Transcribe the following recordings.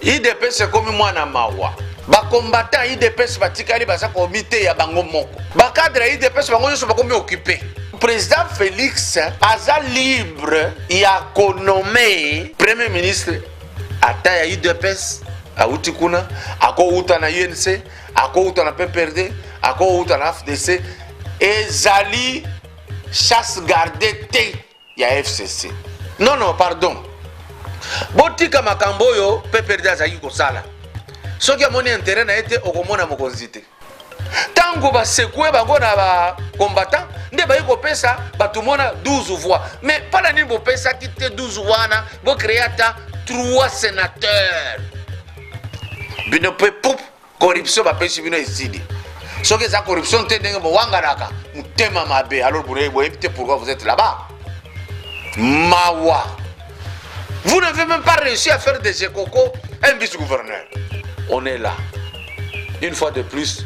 idps ekomi mwana mawa bakombata idps batikali baza komiteya bango moko bakadre ya idps bango nyonso bakomi okipe président félix aza libre ya konome premier ministre ata ya idps awuti kuna akowuta na unc akowuta na pprd akowuta na fdc ezali chasse garde te ya fcc non non pardon botika makambo oyo pprd azalaki kosala soki amoni interet na ye te okomona mokonzi te ntango basekue bango na bacombattant nde bayi kopesa bato mona 12 voix mais mpo na nini bopesaki te 12 wana bocreye ata 3 sénateur bino mpe pup Corruption bapesi bino ezidi. Soki eza corruption te ndenge bowanganaka motema mabe alors boyebi boyebi te pourquoi vous êtes là-bas. Mawa. Vous n'avez même pas réussi à faire des écocos un vice-gouverneur. On est là. Une fois de plus,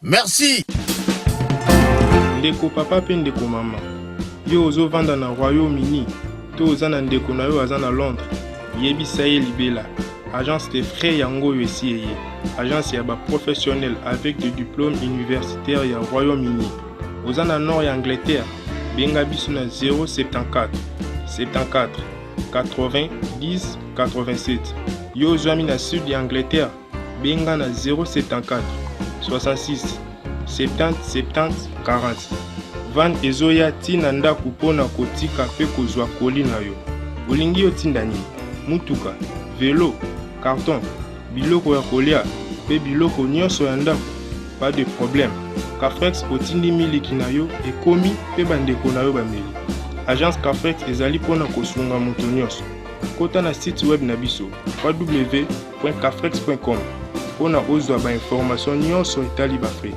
Merci. Ndeko papa pe ndeko mama, yo ozo vanda na Royaume Uni to oza na ndeko na yo aza na Londres, yebisa ye libela agence de frais yango oyo esi eye agence ya ba professionnel avec de diplôme universitaire ya Royaume Uni. Oza na nord ya Angleterre, benga biso na 074 74 80 10 87. Yo ozwami na sud ya Angleterre, Benga na 074 66 70 70 40. Van ezoya ti na ndako mpo na kotika mpe kozwa koli na yo. Olingi yo tinda nini? Mutuka, velo, carton, biloko ya kolia mpe biloko nyonso ya ndako? Pas de problème. Cafrex otindi miliki na yo ekomi mpe bandeko na yo bameli. Agence Cafrex ezali mpo na kosunga moto nyonso. Kota na site web na biso www Cafrex.com mpo na ozwa ba information nyonso etali ba frais.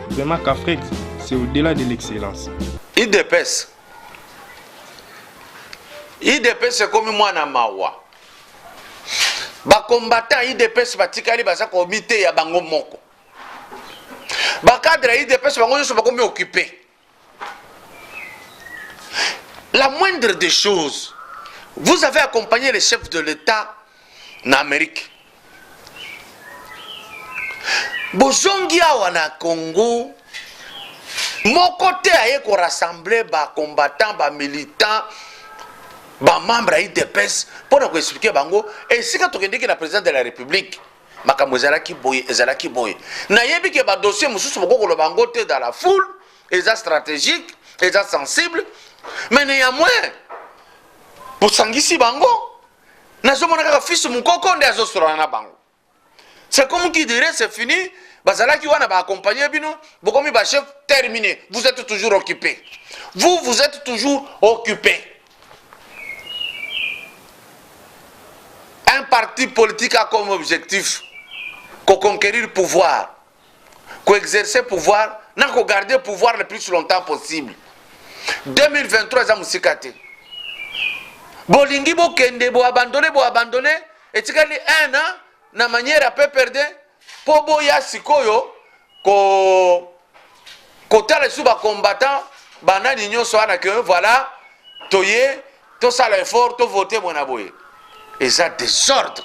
Vraiment Cafrex, c'est au-delà de l'excellence. Idps idps ekomi mwana mawa bakombatan idps batikali baza komiteya bango moko bakadre ya idps bango nyonso bakomi okipe La moindre des choses, vous avez accompagné les chefs de l'État en Amérique. bozongi awa na congo moko te aye korassemble bacombattant bamilitant bamembre ya idps mpo na koexplike bango esika tokendeki na président de la république makambo ezalaki boye ezalaki boye nayebi ke badossier mosusu bokokoloba yango te dans la foule eza stratégique eza sensible mais néanmoins bosangisi bango nazomona kaka fils mokoko nde azosolana na bango c'est comme qui dirait c'est fini bazalaki wana baakompagne bino bokomi bachef terminé vous êtes toujours occupé vous vous êtes toujours occupé Un parti politique a comme objectif ko conquérir pouvoir, ko exercer pouvoir na ko garder pouvoir le plus longtemps possible. 2023 eza mosika te. Bolingi bokende bo abandonner bo abandonner etikali un an na manière ya PPRD Po boya sikoyo ko kotala lisusu ba combattants ba nani nyonso wana que voilà toye tosala effort to voter boye na boye eza desordre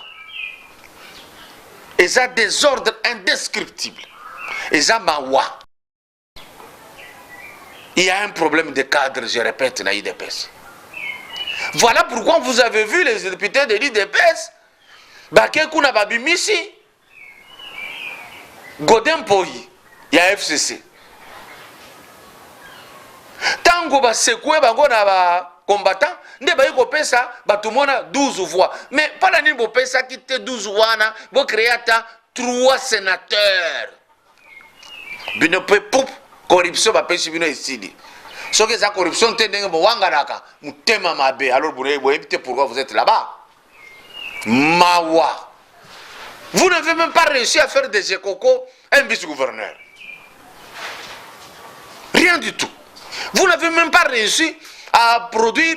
eza desordre indescriptible eza mawa Il y a un problème de cadre, je répète, dans l'IDPS. Voilà pourquoi vous avez vu les députés de l'IDPS, Bakekuna Babimisi, Godin Poyi, il y a FCC. Tango ba secouer bango na ba combattant nde bayi kopesa bato mona 12 voix mais mpona nini bopesaki te 12 wana bocreye ata 3 sénateur bino pe pup corruption bapesi bino esili soki eza corruption te ndenge bowanganaka motema mabe alors boyebi te pourquoi vous êtes là-bas mawa vous n'avez même pas réussi à faire des écocos un vice-gouverneur rien du tout vous n'avez même pas réussi à produire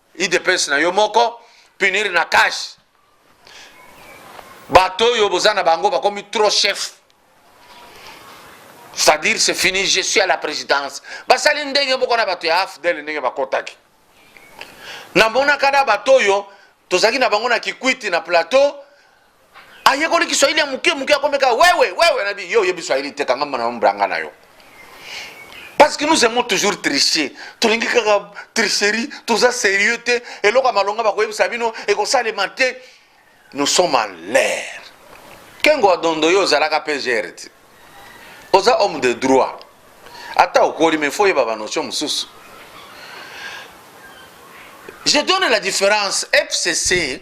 udps na yo moko punir na cash bato oyo boza na bango bakomi trop chef c'est-à-dire c'est fini je suis à la présidence basali ndenge moko na bato ya afdel ndenge bakotaki namonaka na bato oyo tozalaki na bango na kikwiti na plateau ayekoli kiswahili ya moke moke akomeka wewe wewe nabi yo oyebi swahili te kanga mona mbranga na yo parce que nous aimons toujours tricher tolingi kaka tricherie toza sérieux te eloko ya malonga bakoyebisa bino ekosalema te nous sommes à l'air kengo adondo yo ozalaka mpe gere te oza homme de droit ata okoli mais fo oyeba banotion mosusu je donne la différence fcc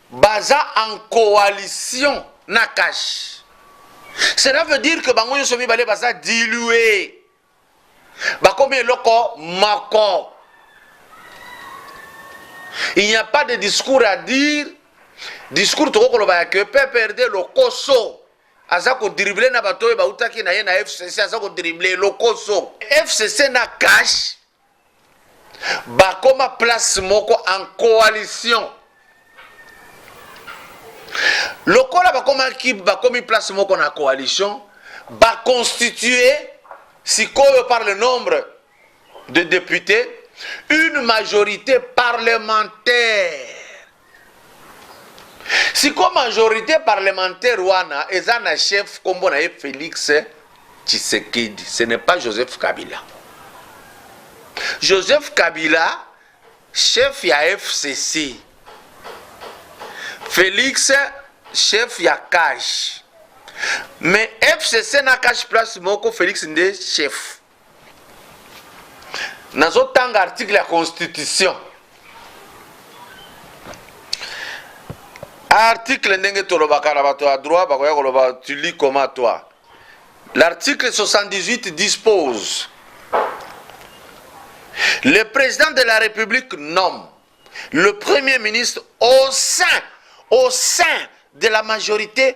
Baza en coalition na cash. Cela veut dire que bango nyoso mibale baza diluer. Bakomi eloko moko. Il n'y a pas de discours à dire. Discours toko koloba ya que PPRD lokoso aza ko dribbler na bato oyo bautaki na ye na FCC aza ko dribbler lokoso. FCC na cash bakoma place moko en coalition lokola bakomaki bakomi place moko na coalition baconstitue sikoyo par le nombre de députés une majorité parlementaire siko majorite parlementaire wana eza na chef kombo na ye felix tshisekedi ce n'est pas joseph kabila joseph kabila chef ya fcc felix chef ya cash mais fcc na cash place moko felix nde chef nazotanga article ya constitution article ndenge tolobaka na bato ya droit bakoya koloba tu lis comment toi l'article 78 dispose le président de la république nomme le premier ministre au sein au sein de la majorité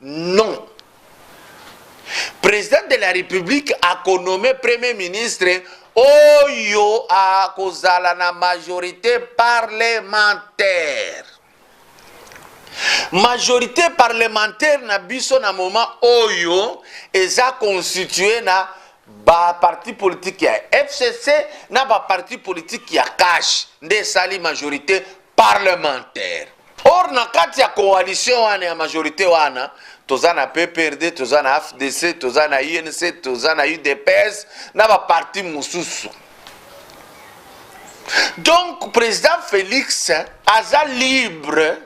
Non. President de la Republique akonome Premier ministre oyo akozala na majorite parlementaire. Majorite parlementaire na biso na moment oyo eza constitue na ba parti politique ya fcc na ba parti politique ya cash nde esali majorité parlementaire Or na kati ya coalition wana ya majorite wana toza na PPRD, toza na FDC, toza na UNC, toza na UDPS na ba parti mosusu. Donc président Félix aza libre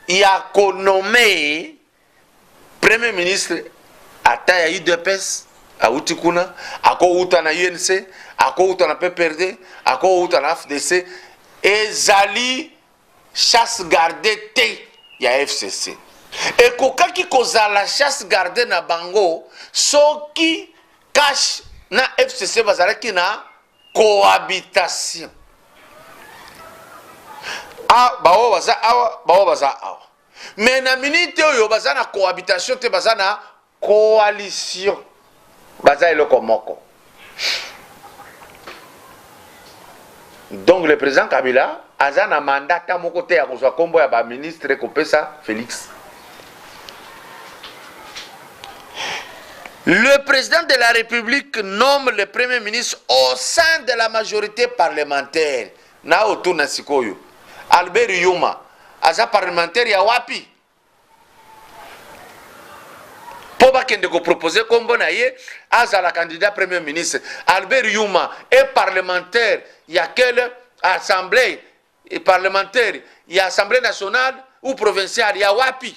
ya ko nommer Premier ministre ata ya UDPS awuti kuna, akowuta na UNC, akowuta na PPRD, akowuta na FDC. Ezali chasse garde te ya FCC. Ekokaki kozala chasse garde na bango soki cash na FCC bazalaki na cohabitation. Ah, baoyo baza awa, baoyo baza awa. Mais na minute oyo baza na cohabitation te baza na coalition. Baza eloko moko. Donc le président Kabila aza na mandat ta moko te ya kozwa kombo ya ba ministre kopesa Felix. Le président de la République nomme le Premier ministre au sein de la majorité parlementaire. Na otuna sikoyo Albert Yuma aza parlementaire ya wapi? Po bakende ko proposer kombo na ye azala candidat premier ministre. Albert Yuma est parlementaire ya quelle assemblée? Et parlementaire ya assemblée nationale ou provinciale ya wapi?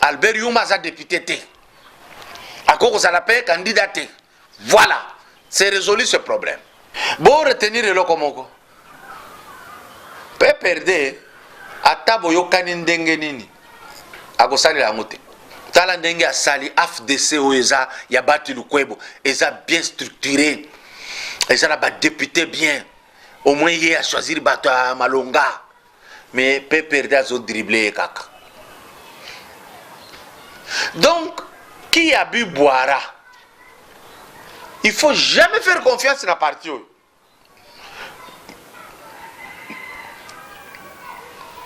albert yuma aza depute te akoki kozala mpe kandida te voilà c'est résolu ce problème bo retenir eloko moko pprd ata boyokani ndenge nini akosalela yango te tala ndenge asali afdc oyo eza ya bati lukwebo eza bien structuré eza na badepute bien au moins ye achoisir bato ya malonga mais PPRD azo dribbler ye kaka. Donc qui a bu boira? Il faut jamais faire confiance na parti oyo.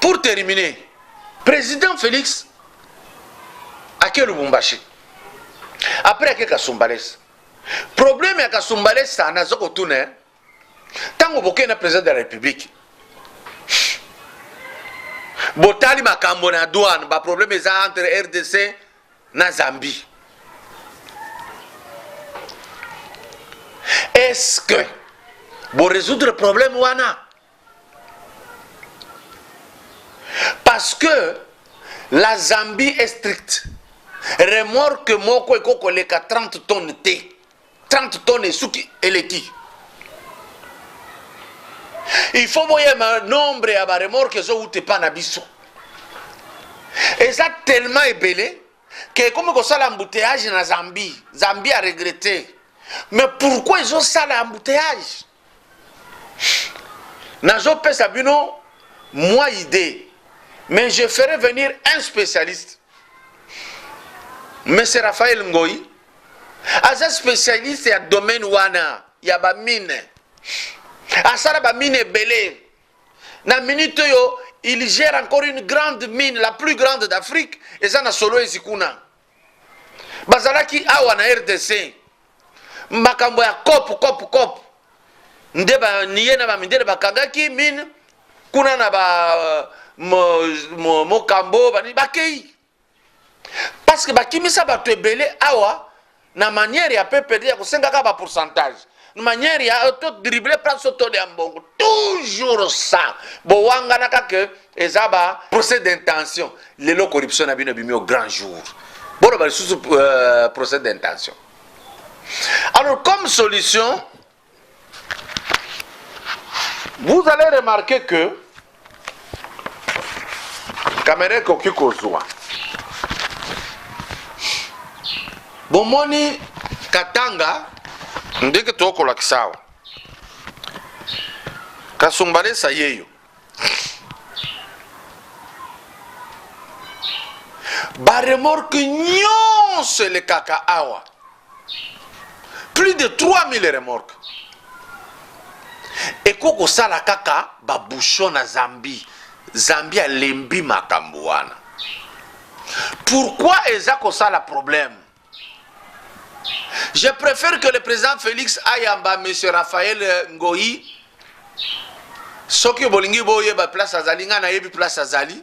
Pour terminer, président Félix ake Lubumbashi après ake Kasumbalesa problème ya Kasumbalesa naza kotuna ntango bokei na president de la republique botali makambo na douane baproblème eza entre rdc na zambie est ce que boresoudre problème wana parce que la zambie est stricte remorque moko ekoki koleka 30 tonnes te 30 tonnes esuki eleki il faut boyema nombre ya baremorke ezowuta epa na biso eza tellement ebele ke ekomi kosala embouteillage na zambie zambie aregrete mais pourquoi ezosala embouteillage Nazo pesa bino moi idée mais je ferai venir un spécialiste Monsieur Raphaël Ngoyi aza spécialiste ya domaine wana ya ba mine asala ba mine ebele na minute oyo il gère encore une grande mine la plus grande d'Afrique eza na solo ezikuna bazalaki awa na rdc makambo ya kope kope kope nde baniye na bamindele bakangaki mine kuna na ba mokambo bani bakei parce que bakimisa bato ebele awa na manière ya ppd ya kosengaka ba pourcentage manière ya to dribble place to ya mbongo toujours ça bowanganaka ke eza ba procès d'intention lelo corruption na bino ebimi au grand jour boloba lisusu euh, procès d'intention alors comme solution vous allez remarquer que kamera ekoki kozwa bomoni katanga ndenge tokolakisa awa kasumbalesa yeyo baremorke nyonso elekaka awa plus de 3000 remorque eko kosala kaka babouchon na zambie zambie alembi makambo wana pourquoi eza kosala problème je préfère que le président félix ayamba m raphaël ngoi soki bolingi boyeba place azali ngai nayebi place azali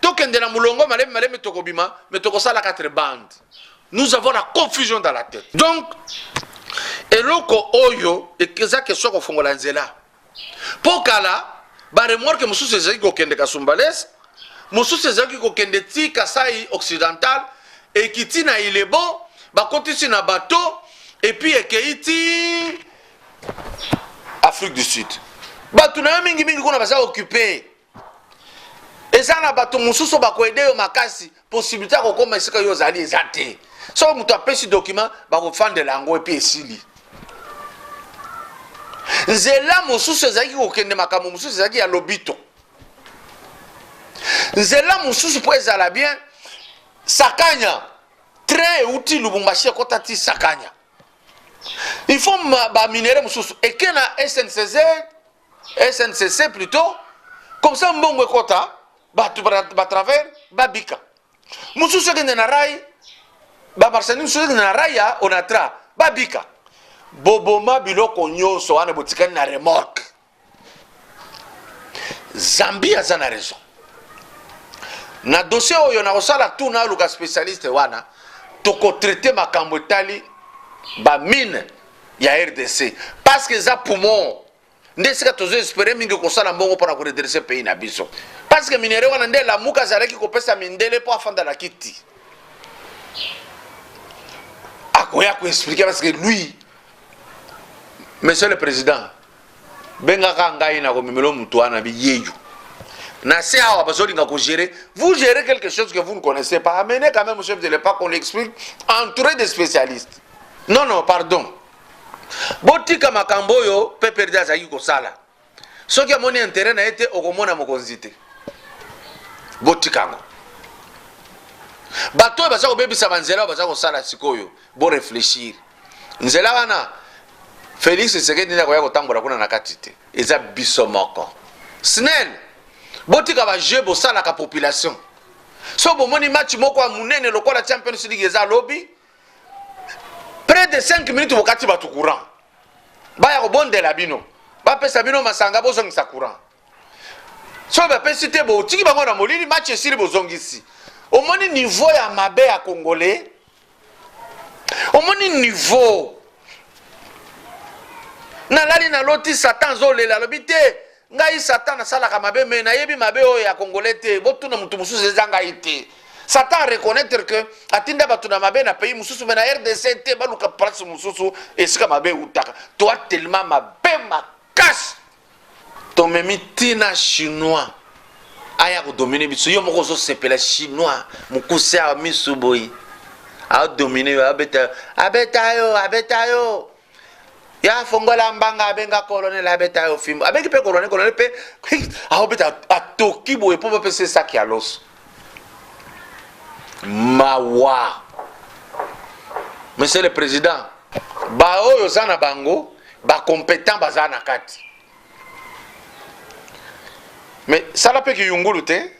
tokende na mulongo malemi malemi tokobima me tokosala quatre bande nous avons la confusion dans la tête donc eloko oyo eza question ya kofongola nzela mpo kala baremorke mosusu ezalaki kokende kasumbales mosusu ezalaki kokende ti kasai occidental ekiti na ilebo bakotisi na bato epuis ekei ti afrique du sud bato na yo mingimingi kuna baza occupe eza na bato mosusu bakoede yo makasi posibilité ya kokoma esika yo ozali eza te soki moto apesi document bakofandela yango epi esili nzela mosusu ezalaki kokende makambo mosusu ezalaki ya lobito nzela mosusu mpo ezala bien sakanya train euti lubumbashi ekota ti sakanya il faut baminere mosusu eke na sncz SNCC plutot comme ça mbongo ekota bato ba travers babika mosusu ekende na rai bamarchandise mosusu ekende na rai ya onatra babika boboma biloko nyonso wana botikani na remorque zambi aza na raison na dossier oyo nakosala tu naluka specialiste wana tokotraite makambo etali bamine ya rdc parce que eza poumon nde esika tozo espere mingi kosala mbongo mpo na koredresse pays na biso parce que minere wana nde lamuka azalaki kopesa mindele mpo afanda na kiti akoya koexplike parce que lui monsieur le président bengaka ngai na komemelo moto wana biyeyo na se awa bazolinga kogere vous gérez quelque chose que vous ne connaissez pas amenez quand même chef de l'époque on explique entouré de spécialistes non non pardon botika makambo oyo pprd azalaki kosala soki amoni intérêt na ye te okomona mokonzi te botika yango bato oyo baza kobebisa banzela oyo baza kosala sikoyo boreflechir nzela wana Felix Tshisekedi nde akoya kotambola kuna na kati te, eza biso moko. Snel, botika ba jeu bosalaka population. So bomoni match moko ya munene lokola Champions League eza lobi, près de 5 minutes bokati bato courant, baya kobondela bino, bapesa bino masanga, bozongisa courant. So bapesi te, botiki bango na molili, match esili bozongisi. Omoni niveau ya mabe ya Congolais omoni niveau nalali naloti satan azolela alobi te ngai satan nasalaka mabe me nayebi mabe oyo ya congolais te botuna motu mosusu eza ngai te satan areconnaitre ke atinda bato na mabe na pays mosusu me na rdc te baluka place mosusu esika mabe eutaka toa telema mabe makasi tomemi tina chinois aya kodomine biso yo moko ozosepela chinois mokuse awa misu boye adomine yo abeta abeta yo abeta yo ya fongola mbanga abenga kolonel abeta yo fimbo abengi mpe kolonel kolonel mpe aobeta atoki boye mpo bapesa esaki ya loso mawa monsieur le président baoyo oza na bango bacompétent baza na kati me sala mpe kiyungulu te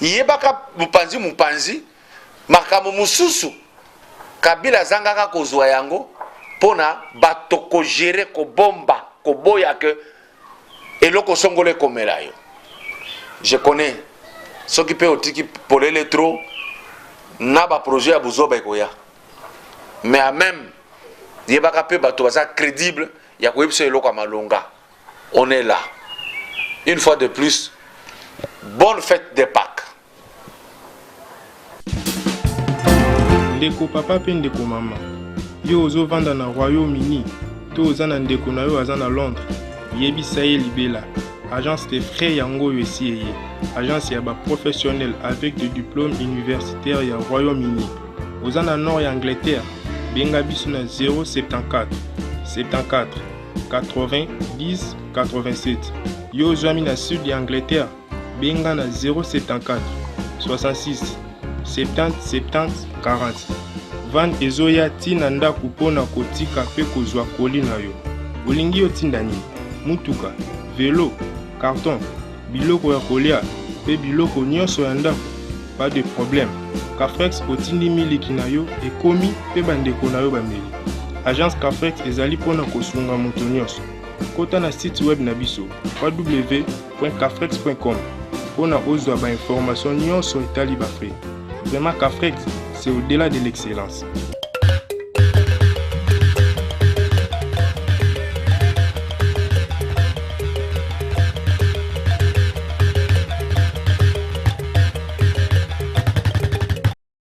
yebaka mopanzi mopanzi makambo mosusu kabila azangaka kozwa yango mpo na bato kogere kobomba koboya ke eloko songolo ekomela yo je connais soki mpe otiki polele trop na baprojet ya buzoba ekoya mais a même yebaka mpe bato baza crédible ya koyebisa eloko ya malonga on est là une fois de plus bonne fête de pâques Ndeko papa mpe ndeko mama, yo ozovanda na Royaume-Uni to oza na ndeko na yo aza na Londres, yebisa ye libela agence de frais yango oyo esi eye agence ya ba professionnel avec de diplôme universitaire ya Royaume-Uni. Oza na nord ya Angleterre, benga biso na 074 74 80 10 87. Yo ozwami na sud ya Angleterre Benga na 074 66 70 70 40. Van ezoya ti na ndako mpo na kotika mpe kozwa koli na yo. Olingi yo tinda nini? Mutuka, velo, karton, biloko ya kolia mpe biloko nyonso ya ndako? Pas de problème. Cafrex otindi miliki na yo ekomi mpe bandeko na yo bameli. Agence Cafrex ezali mpo na kosunga moto nyonso. Kota na site web na biso www www.cafrex.com mpo na ozwa ba information nyonso etali ba frais. Vraiment Cafrex, c'est au-delà de l'excellence.